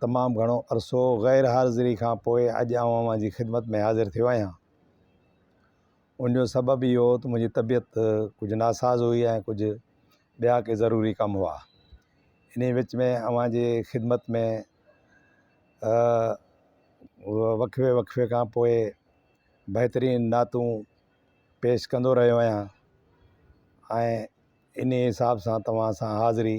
تمام گهڻو عرصو غير حاضري کان پوء اڄ آئون اوهان جي خدمت ۾ حاضر ٿيو آهيان. ان جو سبب اهو هو ته منهنجي طبيعت ڪجهه ناساز هئي ۽ ڪجهه ٻيا ڪي ضروري ڪم هئا. انهيء وچ ۾ اوهان جي خدمت ۾ وقفي وقفي کان پوء بهترين نعتون پيش ڪندو رهيو آهيان ۽ انهيء حساب سان توهان سان حاضري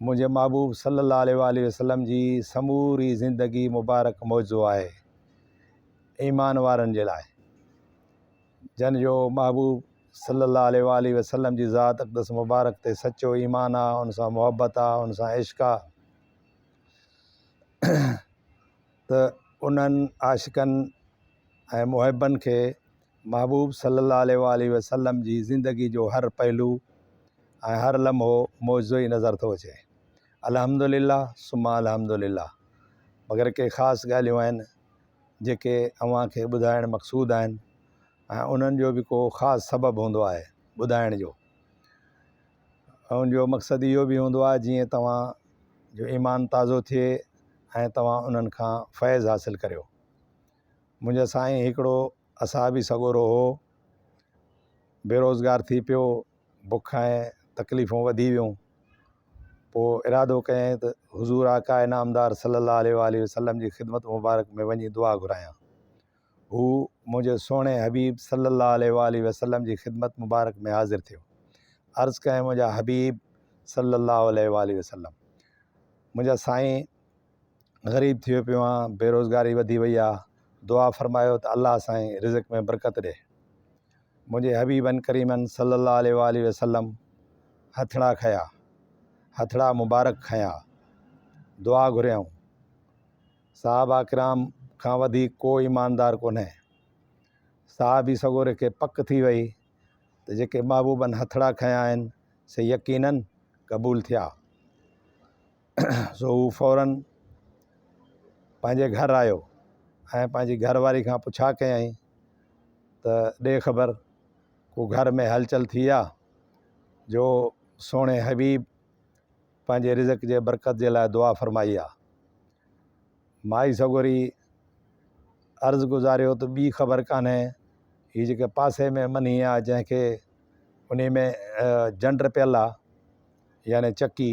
منهنجي محبوب صلّي الله عليه واٰله وسلّم جي سموري زندگي مبارڪ معجزو آهي ايمان وارن جي لاء جن جو محبوب صلّي الله عليه واٰله وسلّم جي ذات اقدس مبارڪ تي سچو ايمان آهي ان سان محبت آهي ان سان عشق آهي ته انهن عاشقن ۽ محبن کي محبوب صلّي اللّٰه عليه واٰله وسلّم جي زندگي جو هر پهلو ۽ هر لمحو معجزو ئي نظر ٿو اچي. الحمد للّٰه ثم الحمد للّٰه مگر ڪي خاص ڳالهيون آهن جيڪي اوهان کي ٻڌائڻ مقصود آهن ۽ انهن جو به ڪو خاص سبب هوندو آهي ٻڌائڻ جو ان جو مقصد اهو به هوندو آهي جيئن توهان جو ايمان تازو ٿئي ۽ توهان انهن کان فيض حاصل ڪريو. منهنجا سائين هڪڙو اصحابي سڳورو هو بيروزگار ٿي پيو بک ۽ تڪليفون وڌي ويون پوء ارادو ڪيائين ته حضور آقاء نامدار صلي الله عليه و آله وسلم جي خدمت مبارڪ ۾ وڃي دعا گهرايان هو منهنجي سهڻي حبيب صلي الله عليه و آله وسلم جي خدمت مبارڪ ۾ حاضر ٿيو عرض ڪيائين منهنجا حبيب صلي الله عليه و آله وسلم منهنجا سائين غريب ٿيو پيو آهيان بيروزگاري وڌي وئي آهي دعا فرمايو ته الله سائين رزق ۾ برڪت ڏي منهنجي حبيبن ڪريمن صلي الله عليه وآله وسلم هٿڙا کنيا هٿڙا مبارڪ کنيا دعا گهريائون صحابه کرام کان وڌيڪ ڪو ايماندار ڪونهي صحابي سڳوري کي پڪ ٿي وئي ته جيڪي محبوبن هٿڙا کنيا آهن سي يقينن قبول ٿيا سو هو فورن پنهنجي گهر آيو ۽ پنهنجي گهر واري کان پڇا ڪيائين ته ڏي خبر ڪو گهر ۾ هلچل ٿي آ جو سهڻي حبيب پنهنجي رزق جي برڪت جي لاء دعا فرمائي آ مائي سڳوري عرض گذاريو ته ٻي خبر ڪانهي هي جيڪي پاسي ۾ منهي آ جنهن کي انهي ۾ جنڊ پيل آ يعني چڪي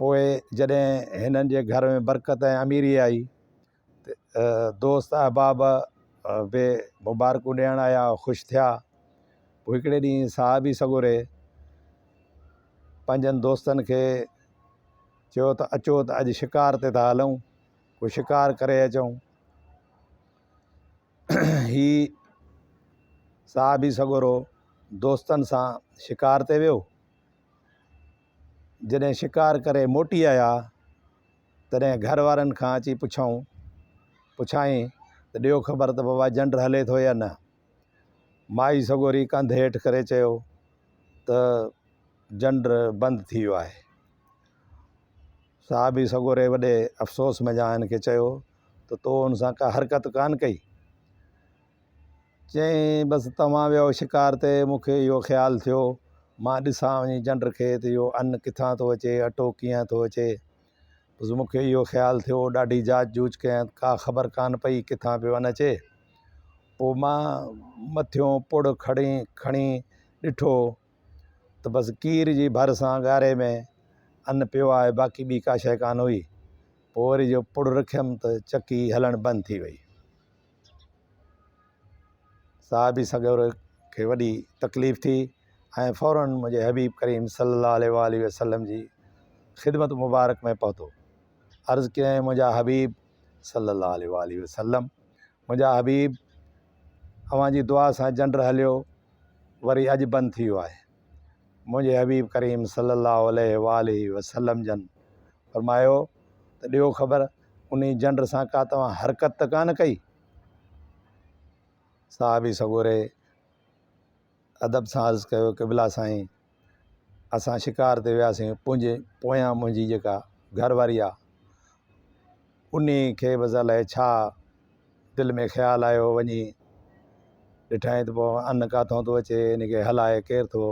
پوء جڏهن هنن جي گهر ۾ برڪت ۽ اميري آئي ته دوست احباب به مبارڪون ڏيڻ آيا خوش ٿيا پوء هڪڙي ڏينهن صحابي سڳوري پنهنجن دوستن کي چيو ته اچو ته اڄ شڪار تي ٿا هلون ڪو شڪار ڪري اچون هي صحابي سڳورو دوستن سان شڪار تي ويو جڏهن شڪار ڪري موٽي آيا تڏهن گهر وارن کان اچي پڇيائون پڇائين ته ڏيو خبر ته بابا جنڊ هلي ٿو يا نه مائي سڳوري ڪنڌ هيٺ ڪري چيو ته جنڊ بند ٿي ويو آهي صحابي سڳوري وڏي افسوس منجهان هن کي چيو ته تو ان سان ڪا حرڪت ڪان ڪئي چيائين، بس توهان ويهو شڪار تي، مون کي اهو خيال ٿيو، مان ڏسان وڃي جنڊ کي ته اهو ان ڪٿان ٿو اچي، اٽو ڪيئن ٿو اچي. بس مون کي اهو خيال ٿيو، ڏاڍي جاچ جوچ ڪيائين، ڪا خبر ڪانه پئي ڪٿان پيو ان اچي. پوء مان مٿيون پڙ کڻي کڻي ڏٺو ته بس کير جي ڀر سان ڳاري ۾ ان پيو آهي، باقي ٻي ڪا شيء ڪانه هئي. پوء وري جو پڙ رکيم ته چڪي هلڻ بند ٿي وئي. صاحب سان گڏ کي وڏي تڪليف ٿي ۽ فوراً منهنجي حبيب ڪريم صلّي الله عليه واٰله وسلّم جي خدمت مبارڪ ۾ پهتو عرض ڪيائين منهنجا حبيب صلّي الله عليه واٰله وسلّم منهنجا حبيب اوهان جي دعا سان جنڊ هليو وري اڄ بند ٿي ويو آهي منهنجي حبيب ڪريم صلّي اللّٰه عليه واٰله وسلّم جن فرمايو ته ڏيو خبر انهي جنڊ سان ڪا توهان حرڪت ته ڪانه ڪئي صحابي سڳوري ادب سان عرض ڪيو قبلا سائين اسان شڪار تي وياسين پنهنجي پويان منهنجي جيڪا گهر واري آهي انهي کي بس الائي ڇا دل ۾ خيال آيو وڃي ڏٺائين ته پوء ان ڪاٿو ٿو اچي ان کي هلائي ڪير ٿو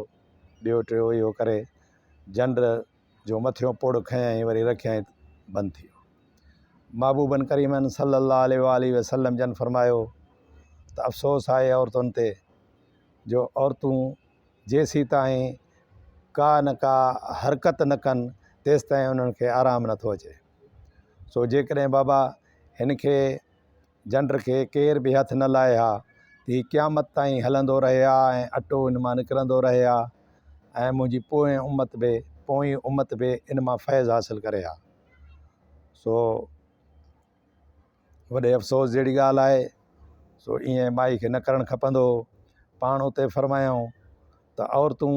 ٻيو ٽيو اهو ڪري جنڊ جو مٿيون پوڙ کنيائين وري رکيائين بند ٿي ويو محبوبن ڪريمن صلي الله عليه وآله وسلم جن فرمايو ته افسوس آهي عورتن تي جو عورتون جيسي تائين ڪا نه ڪا حرڪت نه ڪن تيسي تائين انهن کي آرام نٿو اچي سو جيڪڏهن بابا هن کي جنڊ کي ڪير به هٿ نه لائي ها ته هي قيامت تائين هلندو رهي ها ۽ اٽو هن مان نڪرندو رهي ها ۽ منهنجي پوئين امت به پوئين امت به ان مان فيض حاصل ڪري ها سو وڏي افسوس جهڙي ڳالهه آهي سو ائين مائي کي نه ڪرڻ کپندو هو پاڻ اتي فرمايائون ته عورتون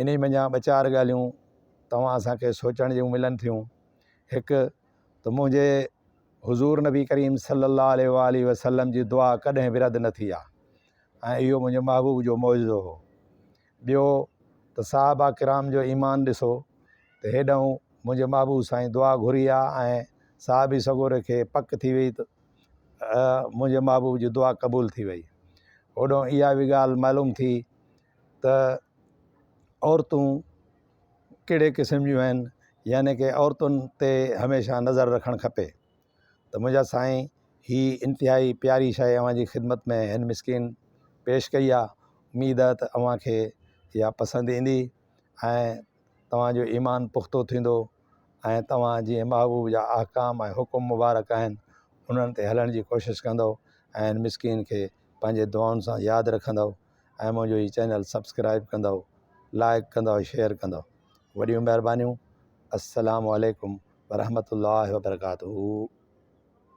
انهي منجهان ٻه چار ڳالهيون توهان سان کي سوچڻ جون ملن ٿيون هڪ ته منهنجي حضور نبي ڪريم صلي الله عليه وآله وسلم جي دعا ڪڏهن به رد نه ٿي آ ۽ اهو منهنجي محبوب جو معجزو هو ٻيو ته صحابه ڪرام جو ايمان ڏسو ته هيڏنهن منهنجي محبوب سائين دعا گهري آ ۽ صحابي سڳوري کي پڪ ٿي وئي ته منهنجي محبوب جي دعا قبول ٿي وئي هوڏنهن اها به ڳالهه معلوم ٿي ته عورتون ڪهڙي قسم جون آهن يعني ڪي عورتن تي هميشه نظر رکڻ کپي ته منهنجا سائين هي انتهائي پياري شاعري اوهان جي خدمت ۾ هن مسڪين پيش ڪئي آهي اميد آهي ته اوهان کي اها پسند ايندي ۽ توهان جو ايمان پختو ٿيندو ۽ توهان جي محبوب جا احڪام ۽ حڪم مبارڪ آهن انهن تي هلڻ جي ڪوشش ڪندو ۽ مسڪين کي پنهنجي دعائن سان ياد رکندو ۽ منهنجو هي چينل سبسڪرائب ڪندؤ لائڪ ڪندؤ شيئر ڪندؤ وڏيون مهربانيون السلام عليڪم ورحمة الله وبرڪاته